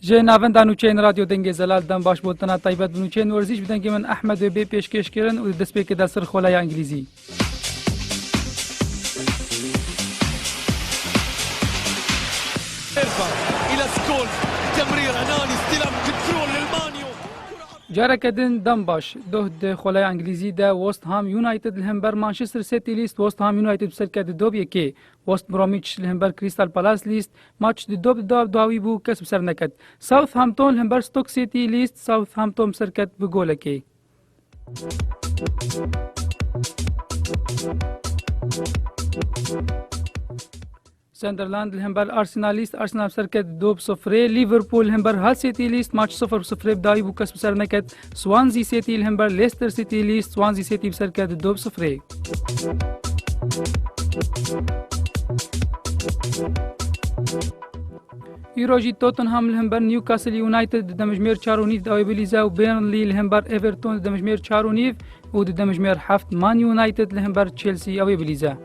Ji navenda nûçeyên Radyo Dengê Zelal dem baş botina taybet bi nûçeyên werzîş bi dengê min Ehmed û bê pêşkêş kirin û di destpêkê de sir xoleya Îngilîzî. Careke din dem baş doh di xoleya Îngilîzî de West Ham United li hember Manchester City lîst West Ham United bi serketî dob yekê West Bromwich li hember Crystal Palace lîst Maç di dob de dawî bû kes bi ser neket. Southampton li hember Stoke City lîst, Southampton bi ser ket bi golekê. Sunderland li hember Arsenal lîst, Arsenal bi ser ket dob sifrê, Liverpool li hember Hull City lîst, maç sifr bi sifrê bi dawî bû kes bi ser neket. Swansea City li hember Leicester City lî Swansea City bi ser ket du bi sifrê. Îro jî Tottenham li hember Newcastle United di demijmêr çar û nîv dawê bilîze û Burnley li hember Everton di demijmêr çar û nîv û di demijmêr heft Man United li hember Chelsea ewê bilîze.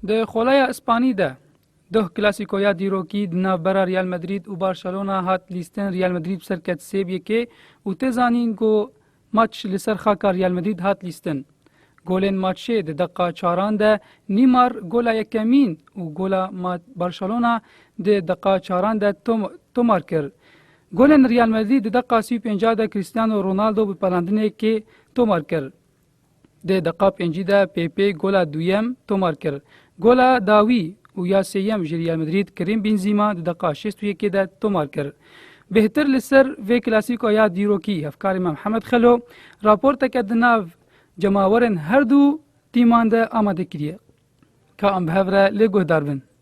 Di xolaya Ispanî de Doh klasîkoya dîrokî di navbera Real Madrid û Barcelona hat lîstin Real Madrid bi ser ket sêb yekê û tê zanîn ku Match li ser xaka Real Madrid hat lîstin. Golên matchê di deqiqa çaran de Neymar gola yekemîn û gola Barcelona di deqiqa çaran de tomar kir. Golên Real Madrid di deqiqa sî û pêncî de Cristiano Ronaldo bi pelandinekê tomar kir. Dê deqa pêncî de PP gola duyem tomar kir. Gola dawî û ya sêyem ji Real Madrid Kerim Benzîma di deqa şêst û yekê de tomar kir. Bêhtir li ser vê klasîko ya dîrokî hevkarê me Mihemed Xelo raporteke di nav cemawerên herdu tîman de amade kiriye. Ka em bi hev re lê guhdar bin.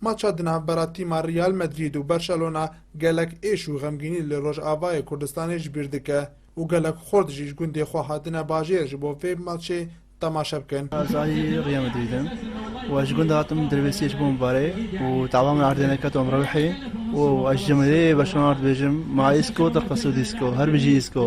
Maça di navbera tîma Real Madrid û Barcelona gelek êş û xemgînî li Rojavayê Kurdistanê ji bîr dike û gelek xurt jî ji gundê xwe hatine bajêr ji bo vê maçê temaşe bikin. Ez alî Real Madrid im û ez ji gundê hatim derbêsiyê ji bo min bare û tava min erdê neket û em rewîhî û ez ji cemêrê Barcelona dibêjim ma îsko te qe sûd îsko her bijî îsko.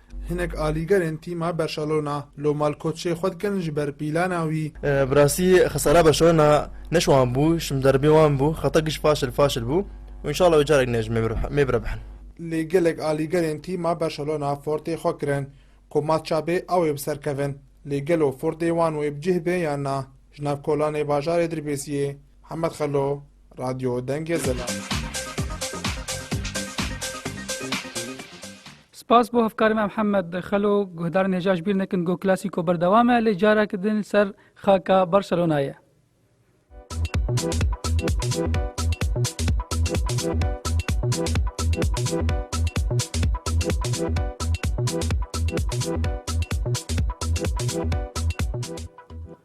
Hinek alîgerên tîma Berşalona lo malkotçê xwe dikin ji ber pîlana wî. Bi rastî xesara Berşalona ne ji wan bû, ji min derbê wan bû, xeta giş faşil faşil bû û înşala wê carek ne ji me biribihin. Lê gelek alîgerên tîma Berşalona fortê xwe kirin ku mat çabê a wê bi ser kevin. Lê gelo fortê wan wê bi cih bê yan na? Ji nav kolanê bajarê Dirbêsiyê Hemed Xelo. Radyo Dengê Zila. Spas bo hevkarê me Mihemed Xelo guhdarên hêja ji bîr nekin go klasîko berdewam e lê carek din ser xaka Barcelonayê.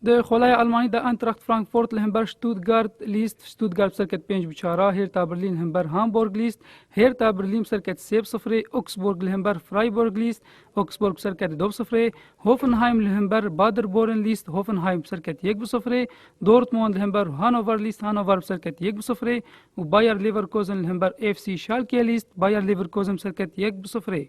Di xolaya Elmanî de Eintracht Frankfurt li himber Stuttgart lîst, Stuttgart bi ser ket pênc bi çar a, Hêrta Birlîn li himber Hamburg lîst, Hêrta Birlîn bi ser ket sê bi sifirê, Augsburg li himber Freiburg lîst, Augsburg bi ser ket do bi sifirê, Hoffenheim li himber Paderborn lîst, Hoffenheim bi ser ket yek bi sifirê, Dortmund li himber Hannover lîst, Hannover bi ser ket yek bi sifirê û Bayer Leverkusen li himber FC Schalke lîst, Bayer Leverkusen bi ser ket yek bi sifirê.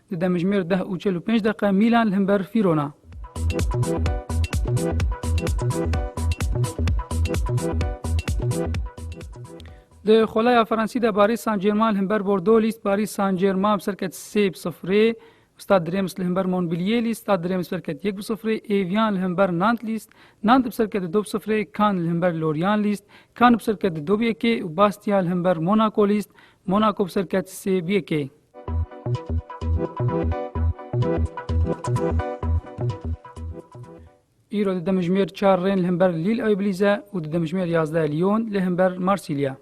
Di demjimêr deh û çel û pênc deqe Mîlan li himber Fîrona. Di xolaya Fransî de Barî San German li himber Bordo lîst Barî San German bi serket sê bi sifrê. Stad Drems li himber Monbilier lîst Stad Drems bi serket yek bi sifrê. Evian li himber Nant lîst Nant bi serket du bi sifrê. Kan li himber Loryan lîst Kan bi serket du bi yekê û Bastia li himber Monaco lîst Monaco bi serket sê bi yekê. Îro di demijmêr çar rên li hember Lîl ew bilîze û di demijmêr yazdeh Lyon li hember Marsilya.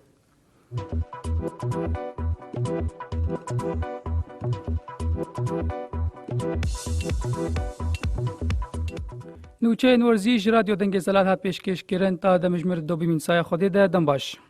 Nûçeyên werzî ji radyo dengê zelal hat pêşkêşkirin ta demijmêr dobîmîn saya xwedê de dem baş.